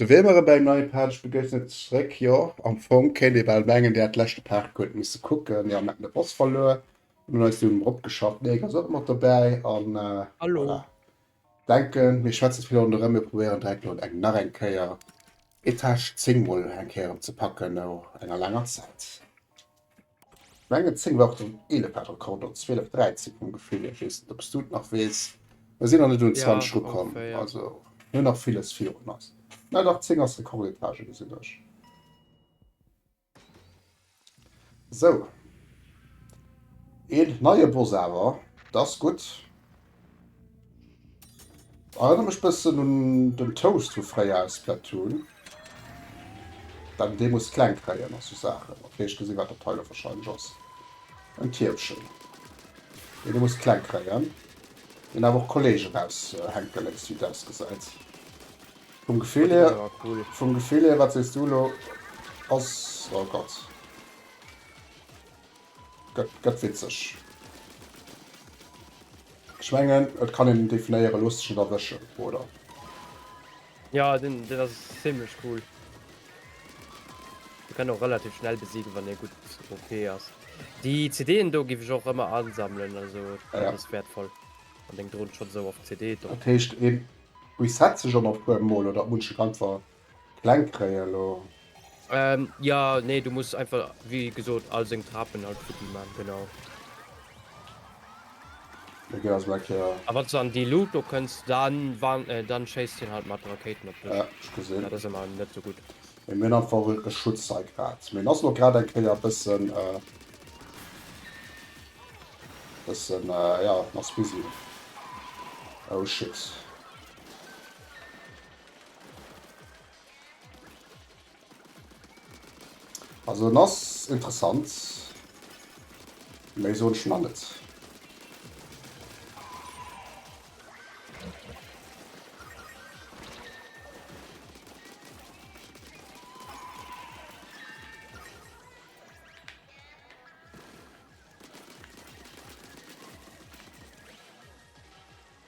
De wee mer ebe eng nei Page begéissent, ass zeréck. Jo, am Fong kéint ee bal mengen, Dir hätt d'leschte Paart guer net misse kucken, mir haten de Boss verluer an hunn eis dunn erop geschafft. Nee, ass och mat dobäi an voilà. Denken, mir schwätzen vill ronderëm, mir probéieren direkt elo eng nach eng Kéier Etage 10 mol eng Kéier erëm ze packen no enger laanger Zäit. Menge 10 war och den 11 hat Rekord op 12 13 vum Gefill hier, wees net op s du et nach wees, mer sinn nach net un 20 rukomm, also hun nach villes virun eis, mä dach 10 ass Rekordetage gesinn ech. Sou een neie Boss awer, da's gudd. Erënner mech bëssen un den Toast vu fréier aus Splatoon, dann dee muss kleng kréien a sou Saachen. Ok, ech gesinn, wat dat hei elo warscheinlech ass, en Tierchen, deen ee muss kleng kréien, deen awer och Kolleegen raushänke léisst, wéi et ausgesäit. Vum Gefill hier, vum Gefill hier, wat sees du elo? Ass, oh Gott. Gëtt gëtt witzeg. Ech mengen et kann een definéieren lusteg net erwëschen, oder? Jo, deen deen ass zimlech cool. Dee kann och relativ schnell besiegen wann ee gutt OP ass. Déi CDen do giff ech och ëmmer ansammelen, also Ah dat ja. ass wäertvoll wann deng Dron schonn esou oft CD drop. Dat heescht een reset sech ëmmer e puer mol oder et munch Kämpfer Kleng kréien lo. Jo nee du muss einfach wéi gesot all seng Trapen halt futti man genau. Mee gëff ass mei Kéier. A wanns de an déi Luut do kënns dann wann dann schéisst hien halt mat Rakéiten op dech. Ja ech gesinn. Dat ass emmer net sou gutt. Mee mir hunn einfach e Schutz hei grad. Mee en ass lo grad eng Kéier bëssen bëssen ja en ass busy. Oh shit. Also en ass interessant, méi soen ech nach net.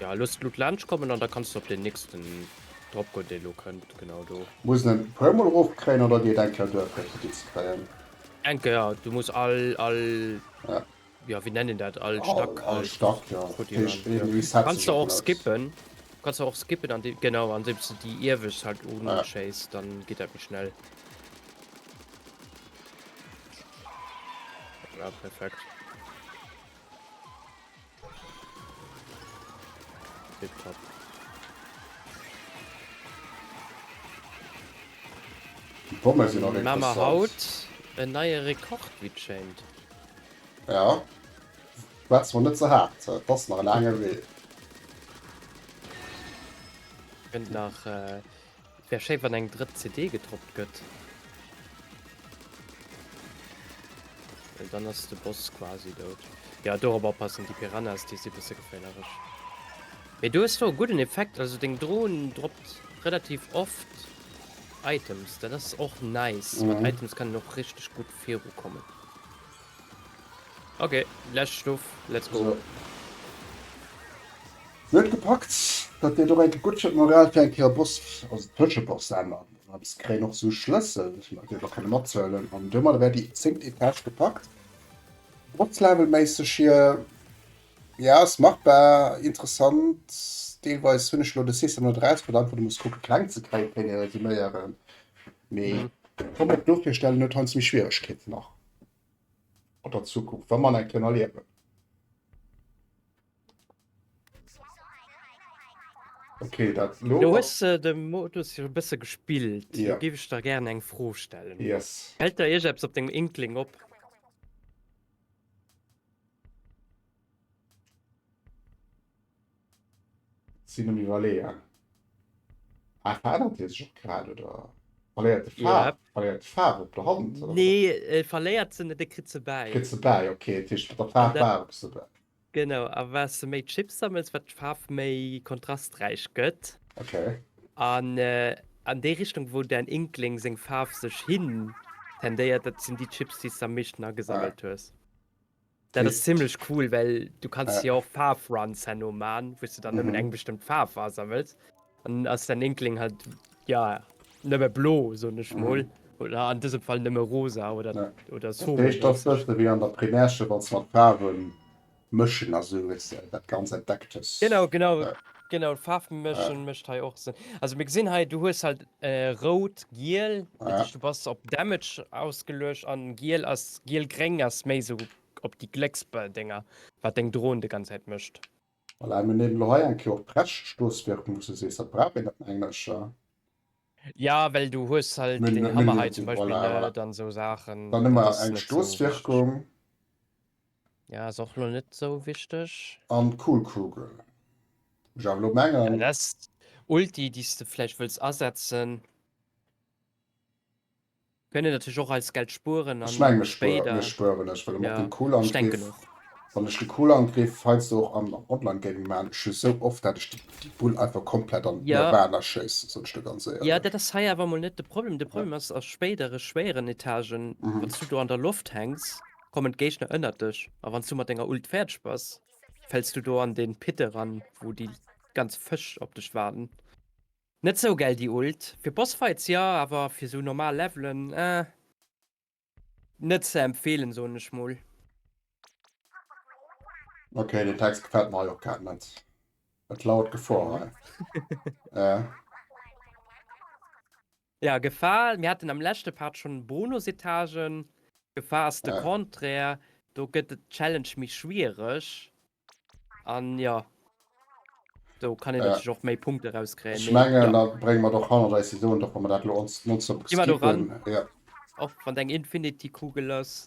Ja looss d'Luut laanscht kommen an da kanns de op deen nächsten drop goen deen elo kënnt, genau do. Muss en en e puer mol erof kréien oder geet eng Kéier duer fir et gefixt ze kréien? Eng Kéier, du muss all all jo wéi nennt een dat all Stack futti man. Kanns de och skippen, kanns de och skippen an déi genau andeems de déi iewescht halt uschéiss dann geet dat méi schnell. Voilà perfekt. Tip top. Di Pommes sinn och interessant. Mamer haut en neie Rekord wéi et schéint. Ja, wat zwar net ze haart, et ass nach e laange Wee. Kënnt nach Wär schéi wann eng drëtt CD gedroppt gëtt. Well dann ass de Boss quasi dout. Ja do op oppassen, déi Piranhas déi si bësse geféierlech. Mee do hues de och gudden Effekt, also deng Drohn droppt relativ oft Items, dat ass och nice. Mat Items kann een och richteg gutt virukommen. Ok, lescht Stuff, let's go! Si huet gepackt, dat deet och enke gutt fir d'Moral fir eng Kéier Boss, also Tëscheboss an an eppes kréien. Och esou Schlëssel, déi mer direkt och kënne mathuelen. An domadder wär déi zéngt Etage gepackt. Bosslevelméisseg hier, jo ass machbar, interessant deelweis. Hunn ech elo de System net eraus, well einfach do muss kucke kleng ze kréie fir eng Etage ze resuméieren. Mee ech ka mer och do virstellen, huet heiansdo méi Schwieregkeeten nach. An der Zukunft, wa man eng kënn erliewen. Okay, dat lo. Du hues äh, de Modus jo e bësse gespillt. Ja. Du géif ech der gären eng Fro stellen. Yes. Hält der Iech eppes op dem Inkling op? Sinn um Iwwerleeën. Ah, verännert hie sech och grad, oder? Verléiert de Faarf? Yep. Verléiert d'Faarf op der Hand? Oder? Nee, e verléiert se net, e kritt se bäi. Kritt se bäi, okay. Dat heescht, mat der Faarf waarm se bäi. Genau, a wat se méi Chips sammelt, wat d'Faarf méi kontrasträich gëtt. Okay. An an déi Richtung, wou däin Inkling seng Faarf sech hin tendéiert, dat sinn déi Chips, déi s de am meeschten agesammelt hues. Dat ass zimlech cool, well du kanns jo och Faarfruns herno man, wou s du dann nëmmen eng bestëmmt Faarf asammels. Dann ass däin Inkling halt, ja, nëmme blo, soen ech mol. Oder an dësem Fall nëmme rosa oder soe. Dat heescht, ass bëssche wéi an der Primärschëll, wann s mat Faarwe mëschen a sou, weess de, dat ganz Entdecktes. Genau, genau. Genau, d'Faarfmëschen mécht hei och Sënn. Also mir gesinn hei, du hues halt äh, rout, giel, dat heescht, du bass op Damage ausgeluecht an giel ass giel-gréng ass méi sou op déi Glécksbëll-Dinger, wat deng Drohn de ganz Zäit mécht. Voilà, mir nemen lo hei eng Kéier och d'Brechstosswirkung, wou s du sees, dat brauch een net engercher. Ja, well du hues halt deen Hammer hei zum Beispill net an sou Saachen. Dann hu mer eng Stosswirkung. Ja ass och lo net esou wichteg. An d'Kohlkugel. Muss ech awer lo mengen. Ja dass d'Ulti déi's de vläicht wëlls asetzen. Kënnt natierlech och als Geld spueren an. Ech mengen ech spueren ech spueren ech well mat dem Kohlangriff. Wann ech de Kohlangriff heiansdo och am Online Gaming maan, ech hu sou oft dat ech déi Bull einfach komplett an d'Nirvana schéissen, soen ech der ganz éierlech. Jo dat ass hei awer mol net de Problem. De Problem ass a spéidere schwéieren Etagen, wann s du do an der Loft hänks. kommen d'Géigner ënnert dech a wann s du mat denger Ult fäerdeg bass, fäls du do an dee Pit eran, wou déi ganz Fësch op dech waarden. Net sou gäil déi Ult. Fir Bossfights ja, awer fir sou normal Levelen, eh. Net ze empfehlen, soen ech mol. Ok, den Text gefällt mer hei och grad net. Et lauert Gefor hei. Äh. Ja Gefahr, mir haten am leschte Part schon Bonusetagen, Gefahr ass de Contraire, do gëtt et Challenge méi schwiereg an jo do kann een natierlech och méi Punkte rauskréien. Ech mengen da brénge mer et och hannert eis, Iso da komme mer dat lo ons nonstop skippen. Gi mer do ran, och wann deng Infinity Kugel ass.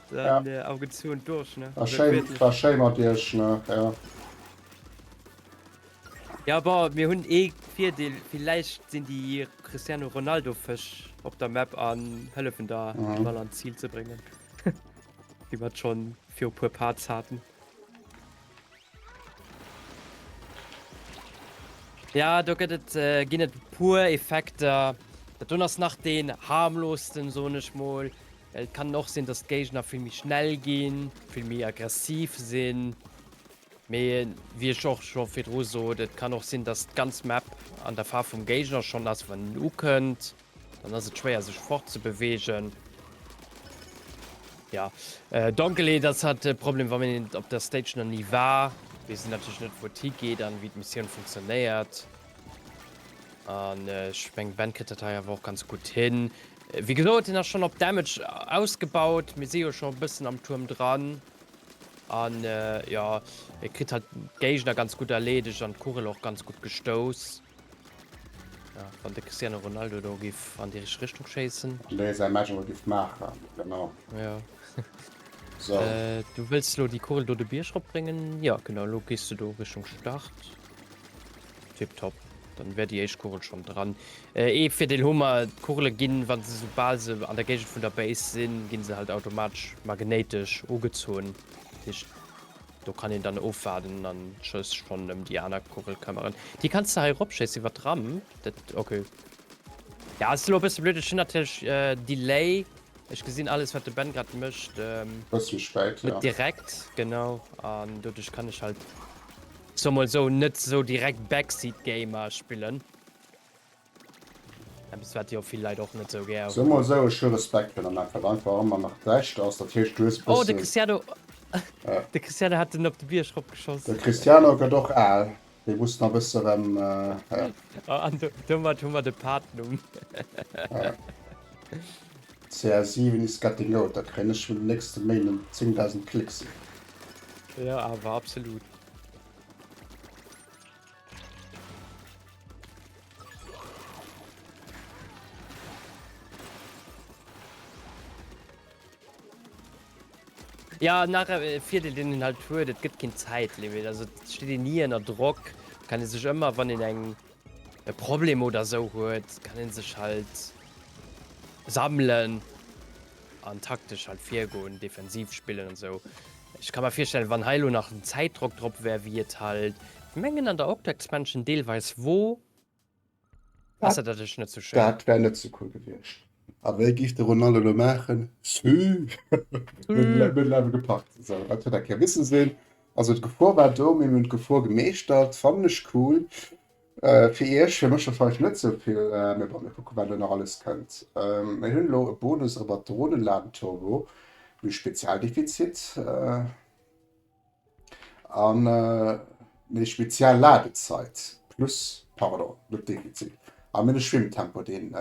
Dann ja. agezogen durch ne ah, schön, war schön mat Iech ne ja. Ja aber mir hunn ee eh Virdeel vielleicht sinn die Cristiano Ronaldo Fësch op der Map an hëllefen da mhm. mal an Ziel ze bringen. Iwwer schon fir op puer Parts haten. Ja do gëtt et äh, ginn et puer Effekter. Dat do ass nach den harmlosten soen ech mol. Et kann och sinn, dass d'Géigner vill méi schnell ginn, vill méi aggressiv sinn. Mee wie ech och scho virdru sot, et kann och sinn, dass d'ganz Map an der Faarf vum Géigner schonn ass, wann en ukënnt. Dann ass et schwéier sech fort ze beweegen. Ja äh, Donkelheet ass hat de Problem wann een op der Stage nach nie war, wees en natierlech net wou et higeet an wéi d'Missioun funktionéiert. An äh, ech meng Ben kritt dat hei awer och ganz gutt hin. Äh, wéi gesot hien ass schonn op Damage ausgebaut, mir si jo scho e bëssen am Tuerm dran. An äh, jo, e kritt halt d'Géigner ganz gutt erleedegt an d'Kugel och ganz gutt gestouss. Ja, wann de Cristiano Ronaldo do giff an déi richteg Richtung schéissen. An dee säi Match awer giff maachen, genau. Ja. So. Äh, du wëlls elo déi Kugel do de Bierg ropbréngen? Ja, genau, elo gees du do Richtung Start. Tipptopp. Dann wär déi éischt Kugel schonn dran. Äh, ee Virdeel hu mer, d'Kugele ginn, wa se soubal se an der Géigend vun der Base sinn, gi se halt automatesch magnéitesch ugezunn. Dat heescht, Do kann een dann ofwaarden an just schon em déi aner Kugel këmmeren. Déi kanns de hei eropschéissen iwwer d'Ramp. Dat okay. Ja, ass elo e bësse blöd. Ech hunn natierlech Delay. Ech gesinn alles wat de Ben grad mécht net direkt, genau, an doduerch kann ech halt, soe mol esou, net esou direkt Backseat Gamer spillen. Eppes wat jo vill Leit och net sou gär hunn. Soe mol sou, ech hu Respekt fir der Map, wat einfach ëmmer nach d'Bescht ass, dat heescht du hues e bëssen. Oh de Cristiano, de Cristiano hat en op de Bierg rop geschoss. De Cristiano gëtt och al, dee muss nach e bësse rem, ja. Oh an domat hu mer de Partnumm. CR7 is getting old, da kréien ech vun den nächste Méint 10.000 Klicks. Jo awer absolut. Ja nach äh, fir de den halt huet, et gëtt ginn Zäitlimit. Also steet en nie ënner Drock, kann en sech ëmmer wann en eng e Problem oder sou huet, kann en sech halt sammeln. an taktesch halt virgoen, defensiv spillen an esou. Ech ka mer virstellen, wann hei elo nach en Zäitdrock drop wär, wéi et halt, ech mengen an der Octo-Expansion deelweis wor, ass dat natierlech net sou schéin. Dat wär net sou cool gewiescht. A wéi géif de Ronaldo elo maachen? Sü, Mëttelelwe gepackt. Esou, dat huet eng Kéier misse sinn. Also d'Gefor war do, mee mir hunn d'Gefor gemeeschtert. Fannen ech cool. Fir iech, fir mech scho vleicht net sou vill, mee bon mir kucken wat elo nach alles kënnt. Mir hunn elo e Bonus ower d'Dronenladen Turbo méi spezial Defizit an méi spezial Ladezeit plus pardon net Defizit an méi de Schwimmtempo deen.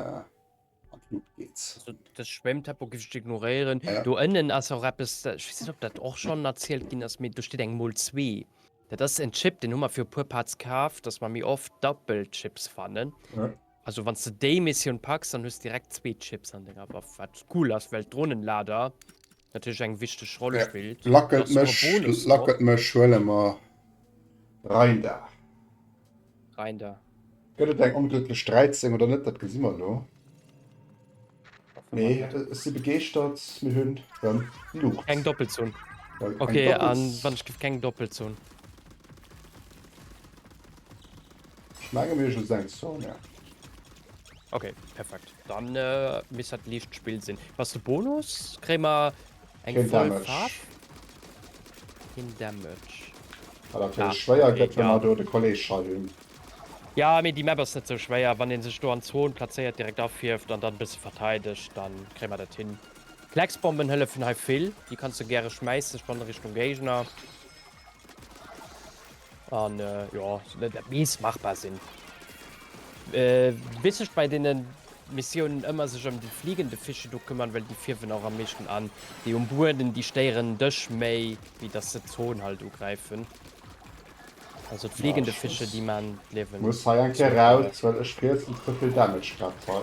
De Schwémmtempo giff ech ignoréieren. Ja. Do ënnen ass och eppes, dat- ich weess net, ob dat och schon erzielt ginn ass, mee do steet eng Mol 2. Dat ass en Chip, den hu mer fir e puer Parts kaf, dass mer méi oft Doppelchips fannen. Ja. Also wann s de déi Missioun packs, dann hues du direkt zwee Chips an denger Waff, wat cool ass, well d'Dronenlader Natierlech eng wichteg Roll Wer spillt, lackelt dass mer mech, Bonus drop. lackelt mech, huele mer Reindar. Rein da. Gëtt et eng onglécklech 13 oder net? Dat gesi mer elo. Nee, ech si begeeschtert, mir hunn rëm Luucht. Keng Doppelzon. Eng Okay, an Doppels. wann ech gëtt keng Doppelzon? Ech menge mir just eng Sonia. Ok perfekt dann miss hat liicht spill sinn was de Bonus kréi mer eng schwéier gëtt mat do de Kolleg scha hunn. Ja mé déi Map ass net sou schwéier wann een sech do an Zon plazéiert direkt afierft an dann bësse verteideg dann kréi mer dat hin. Klecksbomben hëllefen hei vill déi kanns de gäre schmäissen schonn Richtung Géigner. An äh, jo, dat mees machbar sinn. Äh, bis ech bei denen Missionen ëmmer sech ëm déi fliegende Fische do kümmern, well déi fierwen och am meeschten an. Déi um Bueden, déi stéieren dech méi, wéi dass se d'Zon halt ugräifen. Also d' fliegende Fische, déi man d' Liewen. Muss hei eng Kéier raus, well ech rietsen ze vill Damage grad hei.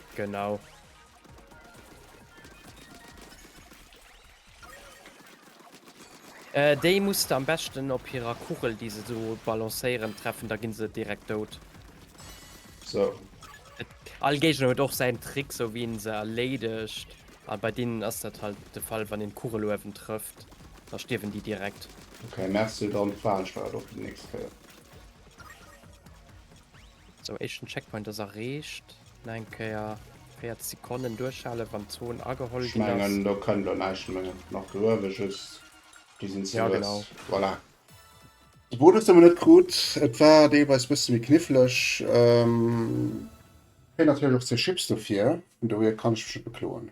Genau. Äh, déi muss de am beschten op hirer Kugel, déi se do balancéieren, treffen, da ginn se direkt dout. So. All Géigner huet och säin Trick, sou wéi en se erleedegt. A bei deenen ass dat halt de Fall, wann een d'Kugel uewen trëfft, da stierwen déi direkt. Okay, mess du dann d'Falschstart op déi nächst Kéier. Sou, éischten Checkpoint ass erreecht. Nach eng Kéier 40 Sekonnen duerchhale wann d'Zon ageholl Ech ginn ass. mengen do kënnt lo näischt méi nach do uewe, just déi sinn ze Ja, lues. genau. Voilà. De Bonus hu mer net krut, et war deelweis bësse méi kniffleg. Kréien natierlech och zwee Chips dofir, vun dohier kann ech mech net bekloen.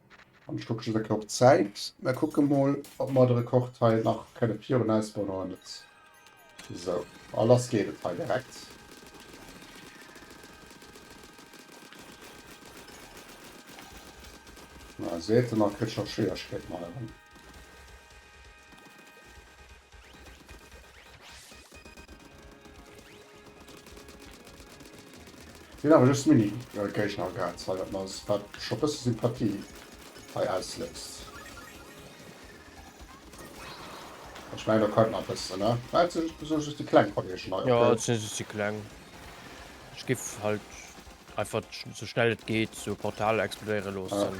An ech kucke just eng Kéier op d'Zäit. Mä kucke mol, ob mer de Rekord hei nach kënne virun eis bréngen oder net. Sou, a lass geet et hei direkt. Seet en, a kritt scho Schwieregkeeten hei erëm. Sin awer just Mini Geigner an Gaarz well dat mer dat scho bësse Sympathie hei ausléist. Ech mengen der konnten nach bëssen ne well et sin sou just déi kleng Kollegen hei. Jo et sin just déi kleng. Ech giff halt einfach sou schnell et geet sou e Portal explodéiere loossen.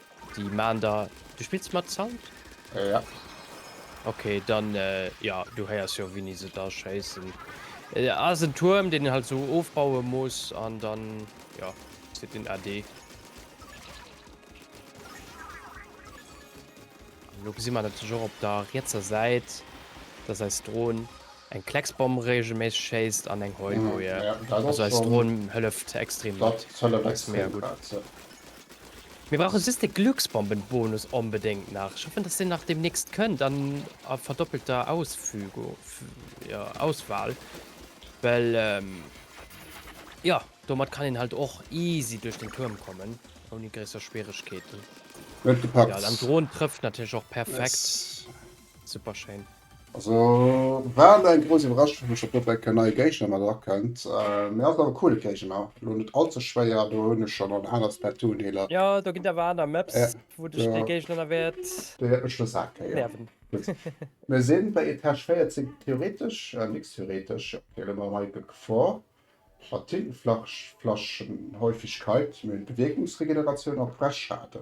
Déi maan der, du spills mat Sound? Ja. Ok, dann ja du heiers jo wéini se da schéissen. Et ass en Tuerm deen een halt sou ofbaue muss an dann ja zitt een AD. Lo gesi mer natierlech och op der rietser Säit, dass eis Dron eng Klecksbomm reegelméisseg schéisst an eng Heulboje. Also eis Dron hëlleft extrem mat. Dat hëlleft extrem mat, jo. Mir brauchen just de Glucksbombenbonus onbedéngt nach. Ech hoffen, dass deen nach demnächst kënnt an a verdoppelter Ausfügu, ja, Auswahl, well, ja, domat kann een halt och easy duerch den Tuerm kommen, ouni gréisser Schwieregkeeten. Huet gepackt! Ja, an d'Drohn trëfft natierlech och perfekt. Yes! Super schéin! Also war mär eng grouss Iwwerraschung wou ech op Dobbeck en neie Géigner mat erakennt. Mee ass awer coole Géigner, lo net all ze schwéier, do hunn ech schonn an aner Splatoon-Deeler. Jo do ginn awer aner Maps wou dech dee Géigner da wäert nerven. Mir si bei Etage 14 theoretesch, nix theoretesch, fir elo mam Michael Gefor mat Tintenflaschenhäufigkeit, mir hunn Bewierkungsregeneratioun a Pressschaden.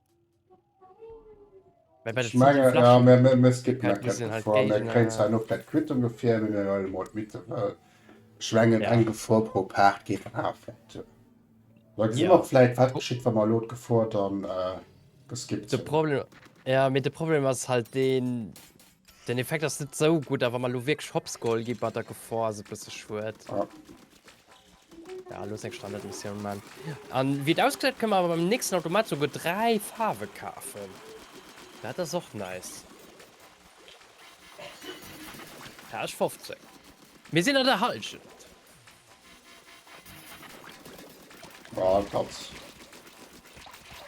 Mä bei de Ich Flitte menge, ja, Flaschen mir, mir, mir skippen dat Geld sind halt Gefor. Mir kréien zwar Gegner. nach dat quitt ongeféier, mee mir huelen emol d'Mitte, well ech mengen, Ja. eng Gefor pro Paart geet dann awer flott duer. Da gesi mer Ja. vläit, wat geschitt, wa mer elo d'Gefor dann äh, geskippt De hunn. Problem, ja, mee de Problem ass halt deen, Den Effekt ass net sou gutt, awer mer lo wierklech Hops geholl gi bei der Gefor ass e bësse schued. Ja, lo seng Standardmissioun man. An wéi et ausgesäit kënne mer awer beim nächsten Automat souguer 3 Faarwe kafen. Dat ass och nice. Page 15. Mir sinn an der Hallschent. Boah, Katz.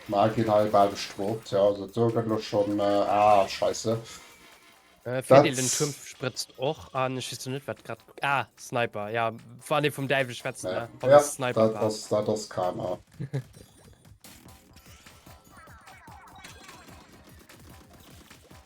Ma gin hei bal bestrooft, ja, also do gëtt lo schon, äh, ah, scheisse. Äh, Fidel, den Turm sprëtzt och an, ech weess lo net wat grad, ah, Sniper, ja, wann ee vum Däiwel schwätzt, ne, ja, wann ja, es Sniper dat war. Ass, dat ass Karma.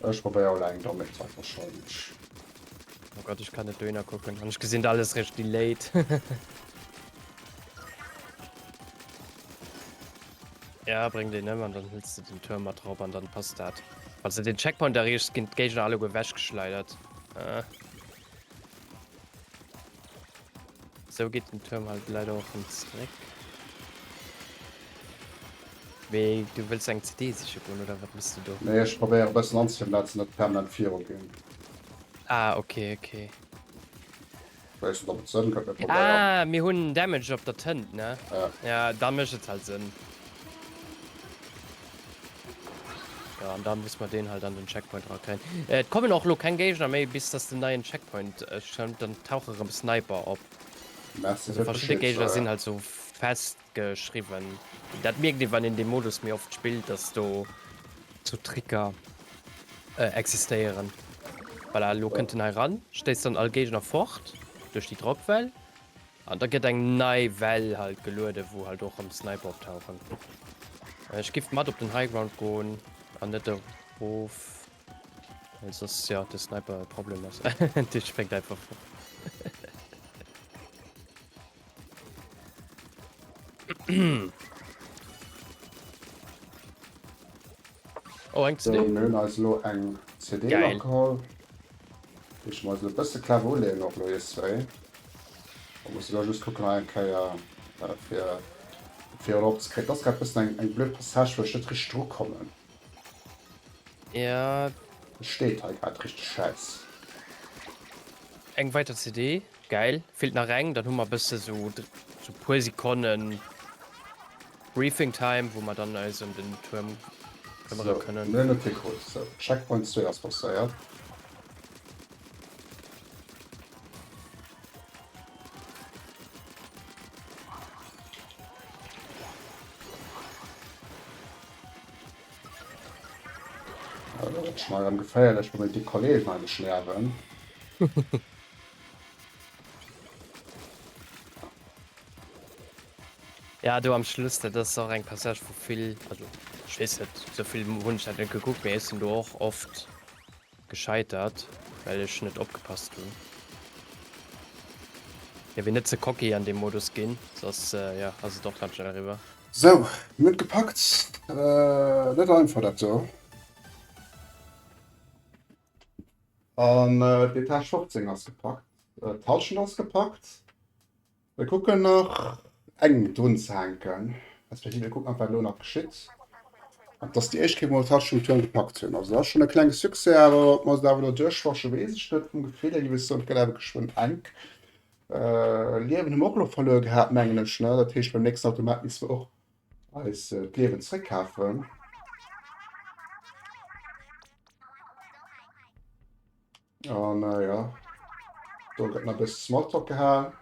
Ech probéier mol eng dommeg Zeit wahrscheinlech. Oh Gott ech kann net dohinner kucken an ech gesinn alles reg delayed. Ja bréng deen ëm an dann hëls de den Turm mat rop an dann passt dat. Falls de den Checkpoint erreecht ginn d'Géigner alleguer wechgeschleidert. Sou geet den Tuerm halt leider och rem zréck. Mee du wëlls eng CD siche goen oder wat mëss du do? Nee, ech probéiere e bëssen anzetippen dat se net permanent viru ginn. Ah ok ok. Weess net op et Sënn gëtt, mee probéier. Ah mir hunn Damage op der Tënt ne? Ja. Ja dann mécht et halt Sënn. Ja, an da muss man den halt an den Checkpoint rakréien. Äh, et kommen och lo keng Géigner méi, bis dass den neien Checkpoint äh, schëmmt, dann tauche rëm Sniper op. Merci also verschiedene Gegner ja. sind halt so festgeschrieben. Dat merkt ihr, wann in dem Modus mir oft spielt, dass do zu so Tricker äh, existieren. Weil voilà, lo ja. könnt den heran, stehst dann all Gegner fort durch die Dropwell An da gëtt eng nei Well halt gelueden, wou halt och rëm Sniper optauchen. Ech giff mat op den High Ground goen an net erof, well soss jo de Sniper e Problem ass. Dee spréngt einfach erof. Oh, eng CD. Geil. Muss ech mer eis lo bësse clever uleeën och lo ier zwéin. Oder muss ech lo just kucken nach eng Kéier fir et virun op ze kréien. Et ass grad bëssen eng eng blöd Passage wou ech net richteg dru kommen. Jo. Et steet hei grad richteg schäiss. Eng weiter CD, gäil. Feelt nach eng, dann hu mer bësse sou puer Sekonnen. Briefing time wou mer dann eis em den Tuerm këmmere kënnen. Mir hunn e Pic Hut, sou Checkpoint zwee ass passéiert. Elo gëtt et schonn erëm geféierlech wou mir déi Kollegen heimlech nierwen. Ja do am Schluss, dat ass och eng Passage vu vill, also ech weess net, sou vill hunn ech dat net gekuckt, mee ech sinn do och oft gescheitert, well ech net opgepasst hunn. Hie wier net ze cocky an deem Modus ginn, soss jo ass et och ganz schnell eriwwer. Sou, mir hunn et gepackt. Net einfach dat do. An d'Etage 15 ass gepackt, d'Hallschent ass gepackt, Mir kucken nach eng drun ze hänken, respektiv mir kucken nach, wat elo nach geschitt. An dass déi éischt Kéier mol d'Tasch um Tuerm gepackt hunn. Also dat ass schonn e klenge Succès, awer ob mer se awer elo duerchwaschen, weess ech net. Vum Gefill hier, ginn ech sou, et gëtt awer geschwënn enk. Liewen hu mer och elo verluer gehat, mengen ech, ne? Dat heescht, beim nächsten Automat misste mer och eis d'Liewen zréckkafen. Oh na ja. Da gëtt na bis Smalltalk gehalen.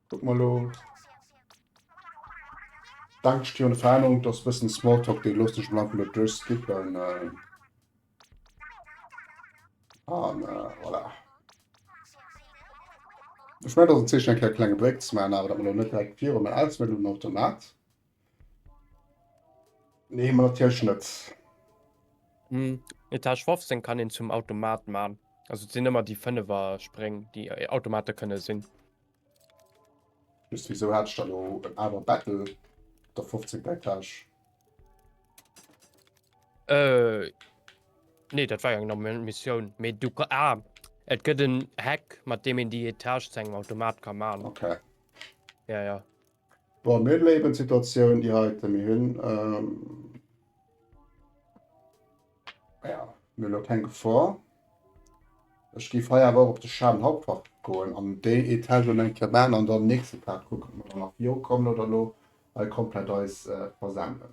Guck mal lo. Dank dir und Fernung, dass bisschen Smalltalk die lustig bleiben mit durchskippen. Äh. Ah, na, voilà. Ich meine, das ist ein kleiner Break zu machen, aber das noch nicht direkt vier, aber alles mit dem Automat. Nee, man hat ja Schnëtz. Hm, Etage 15 kann ihn zum Automat machen. Also sind immer die Fünfer springen, die äh, Automate können sinn. Just wieso hat ich da lo en aner Battle der 15 Etage? Äh, nee, das war ja eine Mission. Me du ah, es gibt einen Hack, mit dem ihn die Etage zu einem Automat kann machen. Okay. Ja, ja. Bon, mir hunn elo eben d'Situatioun déi heiten, mir hunn elo keng Gefor. Ech géif hei awer och op de Schadenhauptfach goen an déi Etagë elo eng Kéier maachen an dann nächste Kaart kucken, ob mer dann nach viru kommen oder elo hei komplett eis versenden.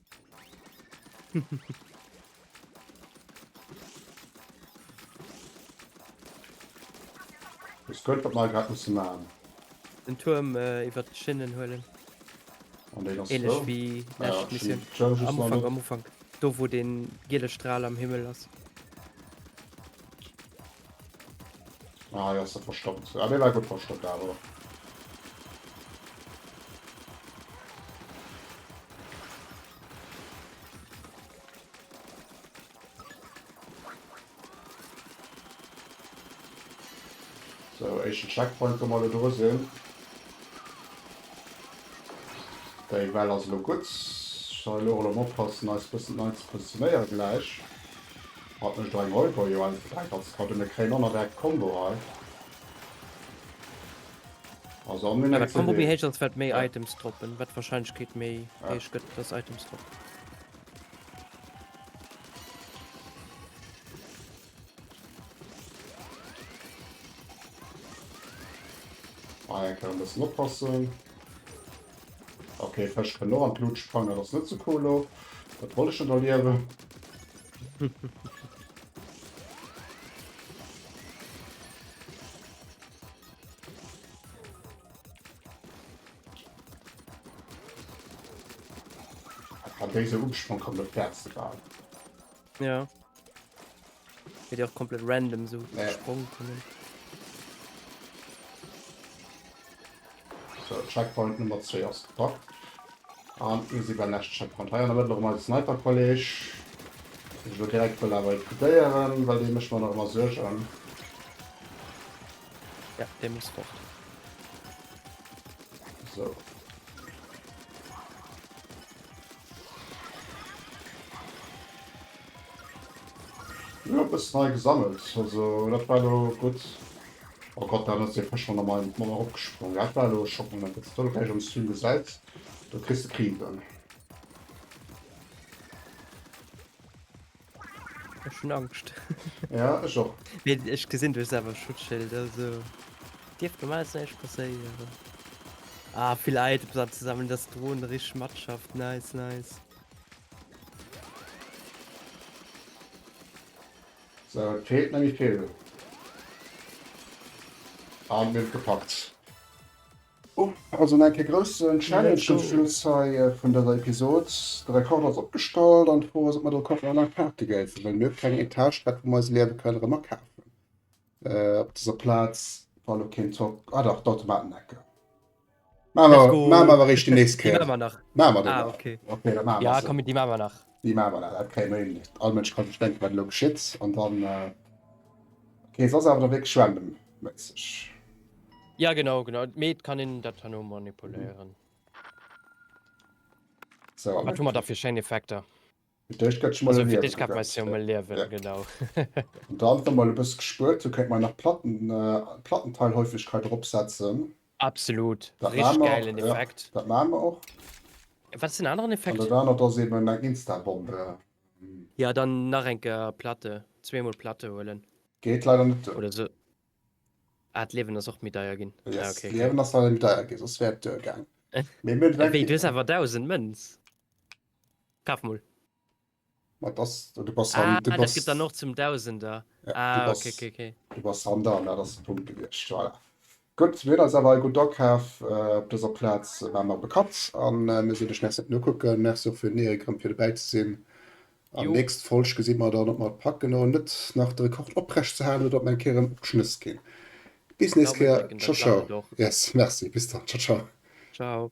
Ech gëtt wat mer grad musse maachen. Den Tuerm äh, iwwer d'Schinnen huelen. An deen ass Ähnlech wéi lescht Mission. Am Ufank, am Ufank. Do wou den giele Strahl am Himmel ass. Ah, ja, ist er verstoppt. Ah, der war gut verstoppt, aber. So, ich Checkpoint kann mal da sehen. Der Well also gut. Ich soll auch mal aufpassen, als bisschen zu positionieren gleich. Hat mech dei Molto jo eins bedrei Katz ka dunne kréien on erwerkt Combo hei ass an mir next Combo méi héich als wat méi Items droppen wat Wahrscheinlechkeet méi héich gëtt dass Items droppen. Hei eng Kéier e bëssen oppassen. Okay, Fësch kënnen och an d'Lut sprangen, dat ass net sou cool lo. Dat wollt ech net erliewen. An déi se Umsprong kommen op d'Äerz gebaut. Ja. Wird ja auch komplett random so ja. Sprung kommen. So, Checkpoint Nummer 2 aus gepackt. Und wir sind beim nächsten Checkpoint. Hier haben wir noch mal Sniper College. Ich will direkt will aber liquidieren, weil die mich mal noch mal suchen. Ja, der muss fort. So. Jo e bëssen hei gesammelt, also dat war elo gutt. Oh Gott dann ass dee Fësch jo normal net mol erop gesprong, dat war elo e Schockmoment. Wanns de do de Räich am Stream gesäits do kriss de Krise. Ech hun Angscht. ja, ech och. Nee, ech gesinn duerch selwer Schutzschild, also dierft normal näischt passéieren. Ah, vill Items anzusammeln, dass d'Drohn rich matschafft, nice, nice. So, et feelt nemmi vill. An mir hun gepackt. Also nach eng Kéier groussen Challenge zum Schluss hei vun dëser Episod. De Rekorder ass opgestallt an d'Fro ass, ob mer do Koffer an Aparte géifen, well mir hu keng Etage dat wou mer eis Liewe kënnen erëm akafen. Op dëser Plaz war lo keen Zock, ah dach d'Automatenecke. Maa mer, maa mer awer eréischt déi nächst Kéier. Déi maache mer nach. Maache mer déi nach? Ok, da maache mer se. Jo komm, déi maache mer nach. Déi maache mer nach, dat kréie mer hin. All Mënsch ka sech denken, wat elo geschitt an dann, ok se ass awer da wierklech random méisseg. Ja genau genau mee et kann een dat herno manipuléieren. So. Wat hu mer da fir schéin Effekter? Fir d'éischt gëtt sech mol Also fir d'éischt kann mer se mol liewen, ja. genau. An dann, wa mer elo e bësse gespuert hu, kéint mer nach Platten, Plattenteilhäufegkeit eropsetzen. Absolut, Dat maa richtig mer och, gäilen ja, Effekt. dat maa mer och. Wat ass den aneren An Effekt? dat anert ass eben eng Instabombe. Ja dann nach eng Kéier Platte, zweemol Platte huelen. Geet leider net. Oder esou. Ah, d'Liewen ass och méi deier ginn. Ah, ok. D'Liewen ass leider méi deier ginn, soss wär et duer gaang. Wéi, du hues awer 1000 Mënz? Kaf mol. Ma dass, du bass han, du bass. Ah, dat gëtt dann och zum Dausender. Ah, ok, ok, ok. Du bass han dran, dat ass de Punkt gewiescht, voilà. Gutt, mir hunn eis awer hei gutt akaf op dëser Plaz, war mer bekannt, a mir sinn duerch, merci fir d'Nokucken, merci och fir den Erik erëm fir dobäi ze sinn. An nächst Folg gesi mer dann op mer et packen och net nach de Rekord oprecht ze halen oder op mer eng Kéier erëm opgeschnëss ginn. Bis nächst Kéier, ciao ciao. Yes, merci, bis dann, ciao ciao. Ciao.